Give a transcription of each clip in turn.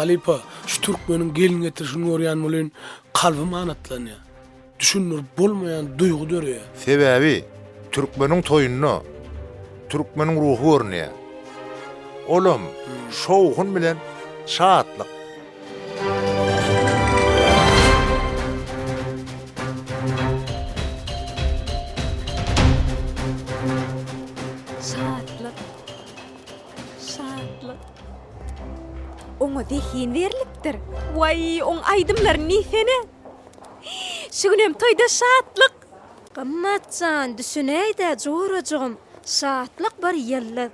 Halypa, şu türkmeniň gelin getirişini görýän welin, kalbym ganatlanýar. Düşündirip bolmaýan duýgy döreýär. Sebäbi türkmeniň toýunda türkmeniň ruhy görünýär. Olam şowhun bilen şatlyk. Şatlyk. Şatlyk. Oňa zehin berlipdir. Waý, oň aýdymlary nesene. Şu günem toýda şatlyk. Gymmatjan, düşünäýdä jorajygym, şatlyk bir ýyldyz.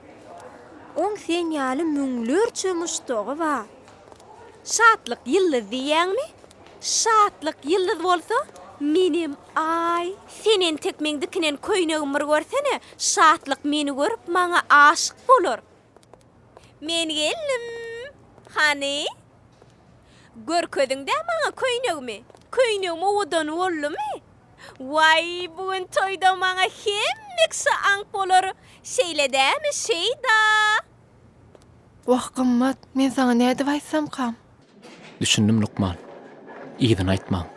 Oň sen ýaly müňlerçe muşdagy bar. Şatlyk ýyldyz diýýäňmi? Şatlyk ýyldyz bolsa, menem Aý. Sen entek meň dikinen köýnegimi bir görsene, şatlyk meni görüp, maňa aşyk bolar. Men geldim. Hany? Görkeziň-dä maňa köýnegimi. Köýnegim owadan boldumy? Waý, bu gün toýda maňa hemme kişi aňk bolar. Şeýle dämi, Şeýda? Wah, gymmat, men saňa nädip aýtsamkam? Düşündim lukman. Yzyny aýtmaň.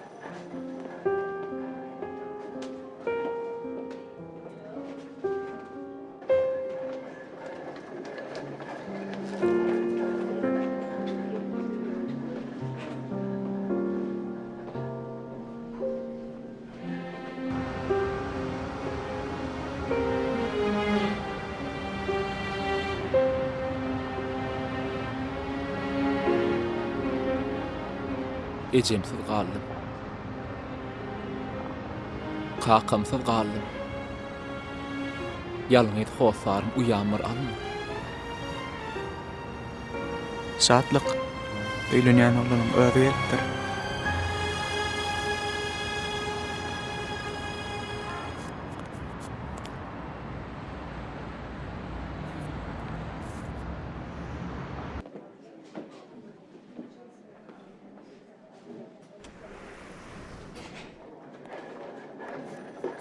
Ejemsiz galdym. Kakamsyz galdym. Ýalňyz hossarym uýam bir alma. Şatlyk, öýlenýän oglanyň özi gelipdir.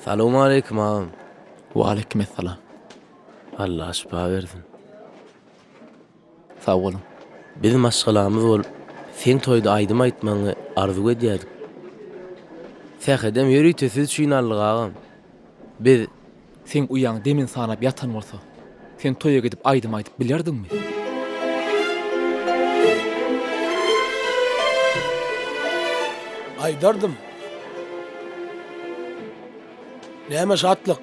Salowmaleýkim agam. Waleýkimessalam. Allah şypa bersin. Sag boluň. Biz maşgalamyz bolup seň toýda aýdym aýtmagyňy arzuw edýärdik. Sähedem ýörite siz üçin aldyk agam. Biz. Seň uýaň demin sanap ýatan bolsa, sen toýa gidip aýdym aýdyp bilerdiňmi? Aýdardym. Näme Şatlyk,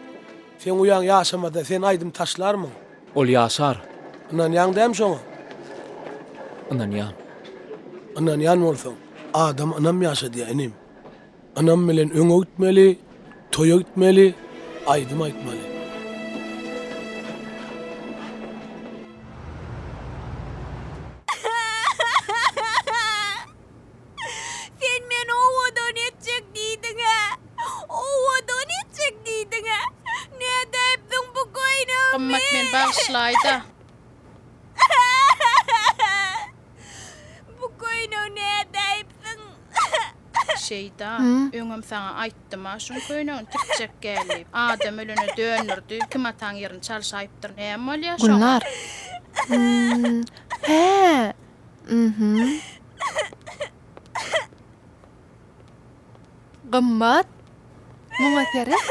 seň uýaň ýaşamasa sen aýdym taşlarmyň? Ol ýaşar. Ynanýaň däm şoňa? Ynanýan. Ynanýan bolsaň, adam ynam ýaşadýa, inim. Ynam bilen öňe gitmeli, toýa gitmeli, aýdym aýtmaly. Sen meni owadan etjek diýdiň-ä! Owadan etjek diýdiň-ä! Nädä epdiň bu göýnegimi? Gymmat meni bagyşlaý-da! Bu göýnegi nädä epdiň? Şeýda, öňem saňa aýtdym-a şuň köýnegini tikjek gel diýip. Adam ölene dönürdi. Kim ataň ýerini çalşaýypdyr, näme bolýa şoňa? Gülnar. Hä, Gymmat, muňa seret.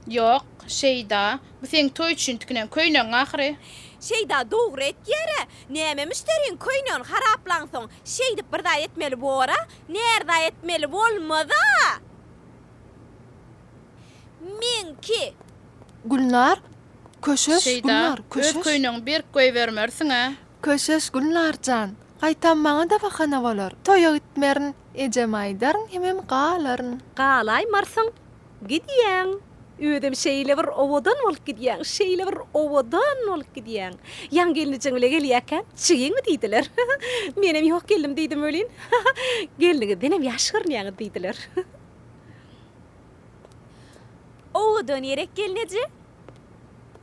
Ýok, Şeýda, bu seň toý üçin tikinen köýnegiň ahyry. Şeýda, dogry etýär-ä. Näme müşderiň köýnegini haraplansoň, şeýdip bir zat etmeli bor-a? Närza etmeli bolmaz-a! Meňki. Gülnar, Köşeş, Şeýda, Gülnar, köşeş. Öz köýnegiňi berk goýbermersiň-ä. Köşeş, Gülnar jan, gaýtam maňa-da bahana bolar. Toýa gitmerin, ejeme aýdaryn hemem galaryn. Galaýmarsyň, gidýäň. Özem şeýle bir owadan bolup gidýäň, şeýle bir owadan bolup gidýäň. Ýaň gelnijeň bile gelýärkä, Çygyňmy diýdiler. Menem ýok geldim diýdim welin, Gelniňizdenem ýaş görünýäňiz diýdiler. Ow dönerek gelneje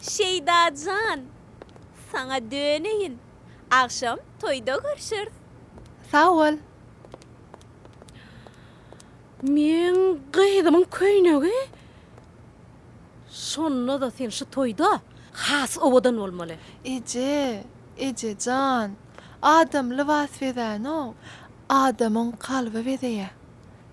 Şeýda jan saňa döneýin agşam toýda görşeris. Sag bol. Meň gyzymyň köýnegi şonda-da sen şu toýda has owadan bolmaly. Eje, eje jan, adam lybas bezänok, adamyň kalby bezeýä.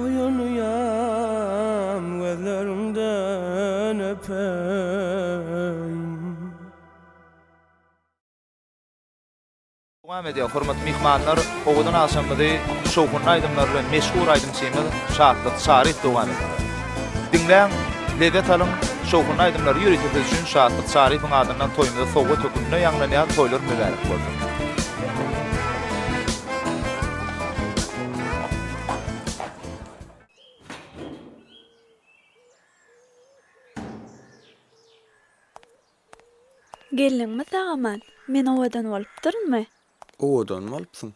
Oýanýan gözleriňden öpeýin. Dowam edýär, hormatly myhmanlar, owadan agşamymyzy şowhunly aýdymlar bilen meşhur aýdymçymyz Şatlyk Çaryýew dowam etdirýär. Diňläň, lezzet alyň, şowhunly aýdymlary ýörite siz üçin Şatlyk Çaryýewiň adyndan toýumyza sowgat höküminde ýaňlanýar, toýlar mübärek bolsun! Geldiňmi sag-aman? Men owadan bolupdyrynmy? Owadan bolupsyň.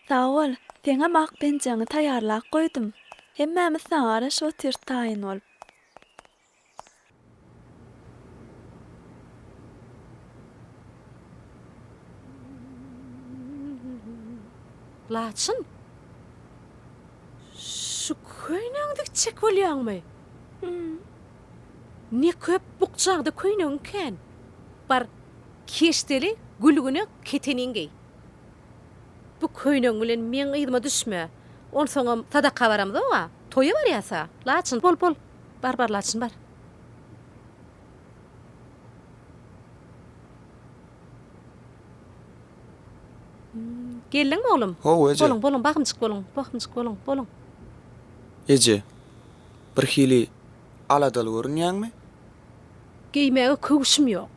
Sag bol. Seňem ak penjäňi taýýarlap goýdum. Hemmämiz saňa garaşyp otyrys taýyn bolup. Laçyn, şu köýnegi dikjek bolýaňmy? Ne köp bukjaňda köýnegiň kän. Bar, keşdeli gülgüne keteniň geý. Bu köýnegiň bilen meň yzyma düşme. Onsoňam sadaka baramzok-a. Toýa barýas-a. Laçyn, bol, bol. Bar bar laçyn bar. Geldiňmi oglum? How eje. Boluň boluň bagymjyk boluň bagymjyk boluň boluň. Eje. Bir hili aladaly görünýäňmi? Geýmäge köwşüm ýok.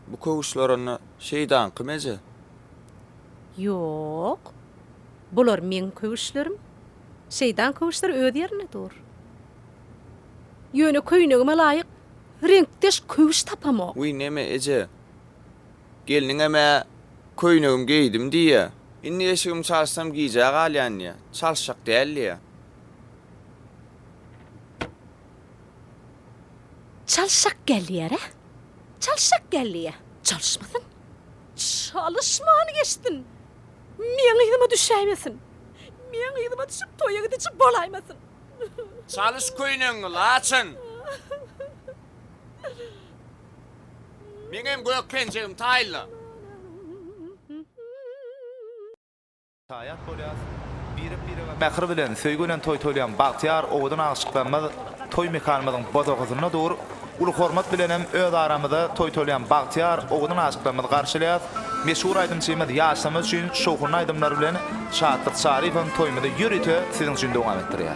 Bu köwüşler onda Şeýdaňkymy, eje? Ýok. Bular meň köwüşlerim. Şeýdaň köwüşler öz ýerinde dur. Ýöne köýnegime laýyk reňkdeş köwüş tapamok. Wiý, neme, eje? Gelniňem-ä köýnegimi geýdim diýýä. Indi eşigimi çalyşsam gijä galýan diýýä. Çalyşjak däl diýýä. Çalşak gelýär-ä. Çalşak gelýär. Çalyşmasyn. Çalyşman geçsin. Meň yzyma düşäýmesin. Meň yzyma düşüp toýa gidiji bolaýmasyn. Çalyş köýnegiňi, laçyn. Meňem gök penjegim taýla. Şaýat bolýas, birek-birege mähir bilen, söýgi bilen toý toýlaýan bagtyýar, owadan aşyklarymyz toý mekanymyzyň bozagysynda dur. Uly hormat bilenem öz aramyzda toý toýlaýan bagtyýar, owadan aşyklarymyzy garşylaýas. Meşhur aýdymçymyz ýaşlarymyz üçin şowhunly aýdymlary bilen Şatlyk Çaryýewiň toýumyzy ýörite siziň üçin dowam etdirýär.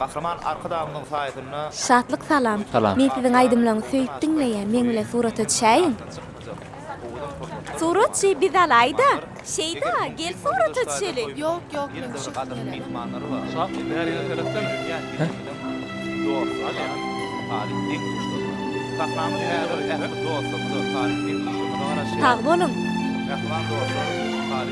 Gahryman Arkadagymyzyň saýasynda. Şatlyk salam. Men siziň aýdymlaňy söýüp diňleýän meň bilen surata düşäýiň. Surat şeý biz alaýda. Şeýda gel surata düşeliň. Ýok ýok men düşesim gelene. Sag boluň.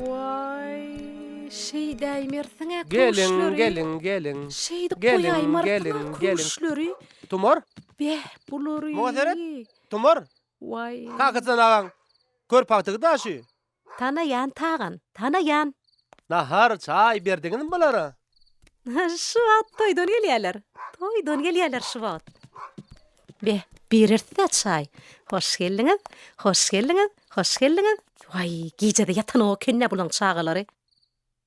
Waý, şeýdäýmersiň-ä küşleri. Geliň, geliň, geliň. Şeýdip goýaýmarsyň-a küşleri. Tumar? Beh, bulary. Muňa seret, Tumar. Waý. Kakajan agaň kör pagtygy daşy. Tanaýan tagan, tanaýan. Nahar, çaý berdiňizmi bulara? Şu wagt toýdan gelýärler. Toýdan gelýärler şu wagt. Be, birersdä çaý. Hoş geldiňiz, hoş geldiňiz, hoş geldiňiz. Waý, gije-de ýatanok eken-dä bulaň çagalary.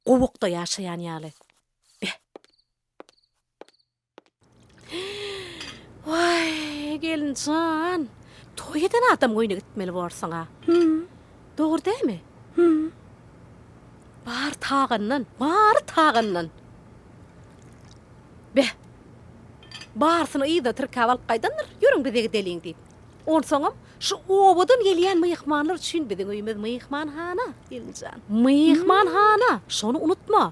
Gowakda ýaşaýan ýaly. Be. Waý, gelinjan, toý eden adam goýna gitmeli borsuň-a. Hüm. Dogry dämi? Hüm. Bar tagandan, bary tagandan. Be, barysyny yza tirkäp alyp gaýdandyr, ýörüň bize gideliň diýip. Onsoňam şu obadan gelýän myhmanlar üçin biziň öýümiz myhmanhana, gelinjan. Myhmanhana, şony unutma.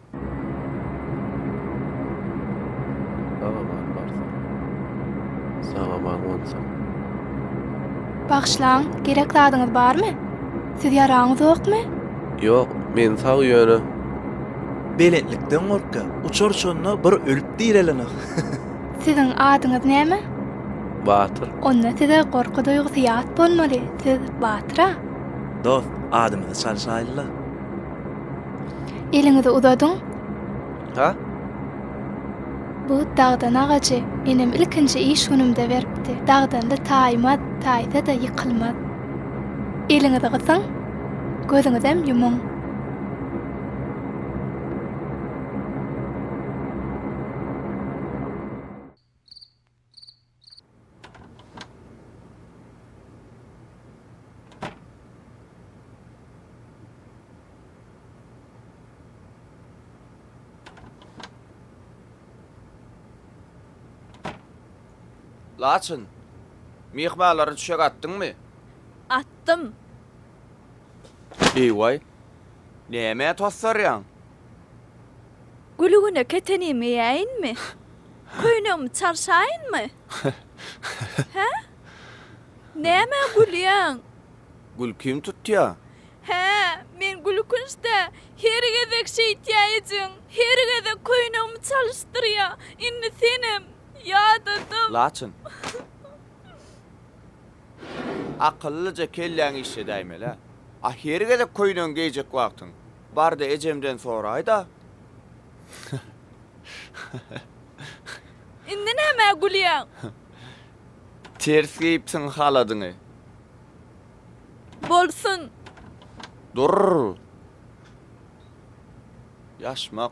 Bagyşlaň, gerek zadyňyz barmy? Siz ýaraňyzokmy? Ýok, men sag ýöne. Belentlikden gorkýan, uçar şonda bir ölüp direlenok. Siziň adyňyz näme? Batyr. Onda size gorky duýgusy ýat bolmaly, siz batyr-a? Dost, adymyzy çalyşaýlyla. Eliňizi uzadyň. Ha? Bu dagdan agajy enem ilkinji iş günümde beripdi. Dagdanly taýmaz, taýsa-da ýykylmaz. Eliňizi gysyň, gözüňizem ýumuň. Laçyn, myhmanlary düşek atdyňmy? Atdym. Eý-waý, nämä tosarýaň? Gülügine ketenim geýäýinmi? Köýnegimi çalşaýynmy? Hä? Nämä gülýäň? Gülkim tutýa. Hä, men gülkünç-dä. Her gezek şeýtýä ejeň. Her gezek köýnegimi çalyşdyrýa. Indi senem. Ýadadym. Laçyn. Akyllyja kelläňi işledäýmeli-ä. A her gezek köýnegiňi geýjek wagtyň. Bar-da ejemden soraý-da. Indi nämä gülýäň? Ters geýipsiň haladyňy. Bolsun. Durr! Ýaşmak.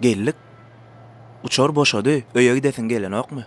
Geldik. Uçar boşady, öýe gidesiň gelenokmy?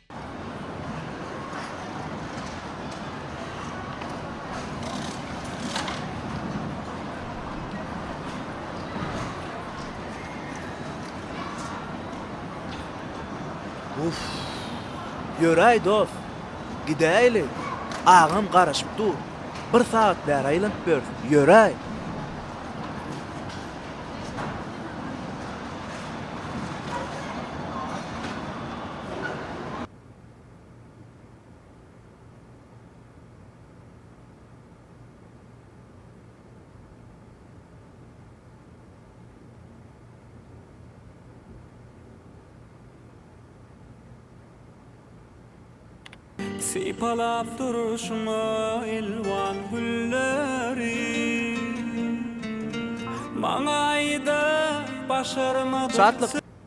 Uff. Ýöräý dos. Gidäýeli. Agam garaşyp dur. Bir sagat bäri aýlanyp ýörüs. Ýöräý. Sypalap durşuňa elwan gülleri Maňa aýda başarmajak.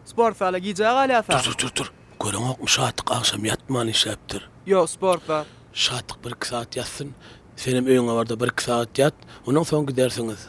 Sport zala gijä galýasa. Dur dur dur. Göreňokmy Şatyk agşam ýatman işläpdir. Ýok sport zat. Şatyk bir iki sagat ýatsyn. Senem öýüňe barda bir iki sagat ýat. Ondan soň gidersiňiz.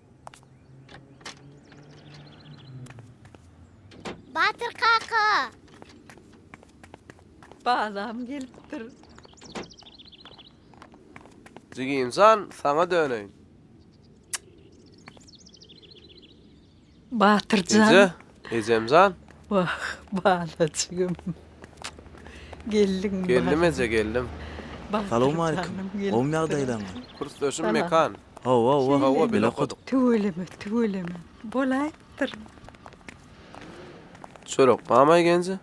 Batyr kaka. Balam gelipdir. Jigimjan, saňa döneýin. Batyrjan. Eje, Ejem jan. Wah bala jigim. Geldiňmi balam. Geldim eje geldim. Salowmalikim. Gowmy ýagdaýlaňyz. Kursdaşym Mekan. Hawa wah hawa bile okadyk. Tüweleme tüweleme bolaýypdyr. Çörek mama egenji.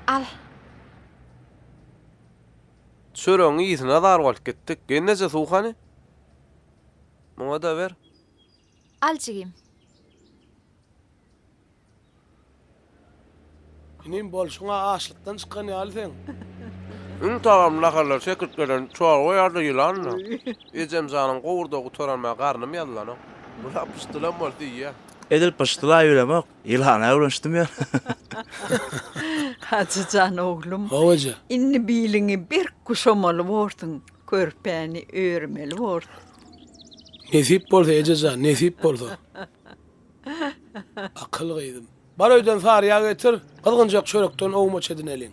Al. Çöregiň ysina zar bolup gitdik. Gelneje suw hany? Muňada ber. Al jigim. Inim bolşuň-a açlykdan çykan ýaly seň. Iň tagam naharlar çekirtgeden çorba ýa-da ýylanla. Ejem janyň gowurda gutaran mä garnym ýazylanok. Muna pyşdylam bolsa iýýän. Edil pyşdyla ýöremok, ýylana öwrenişdim ýöne. Hajy jan oglum. Hawa eje. Indi biliňi berk guşamaly borsuň, körpäni örmeli borsuň. Nesip bolsa ejejan, nesip bolsa. Akyl gyzym. Bar öýden sary ýag getir, gyzgynjak çörekden owmaç edineliň.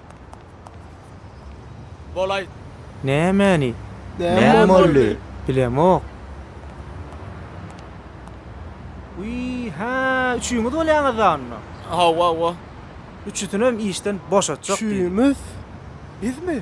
Bolaý. Nämäni? Näme boldy? Bilemok. Wiý, hä, üçüňiz bolýaňyz-da onda? Hawa-wa. Üçüsinem işden boşatjak diýdi. Üçümiz? Bizmi?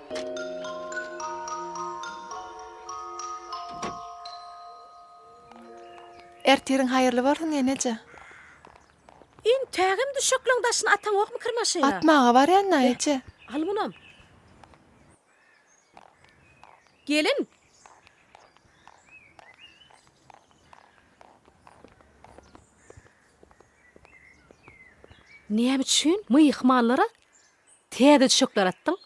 Ertiriň haýyrly bolsun eneje. Entägem düşekleň daşyny ataňokmy kir maşyna. Atmaga barýan da eje. Al munam. Gelin. Näme üçin myhmanlara Täze çiçekler atdyň?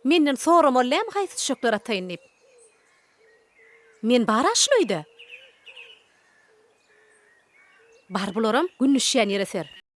Menden soramaly dämi haýsy çiçekler ataýyn diýip? Men bar-a şul öýde. Bar bularam gün düşýän ýere ser.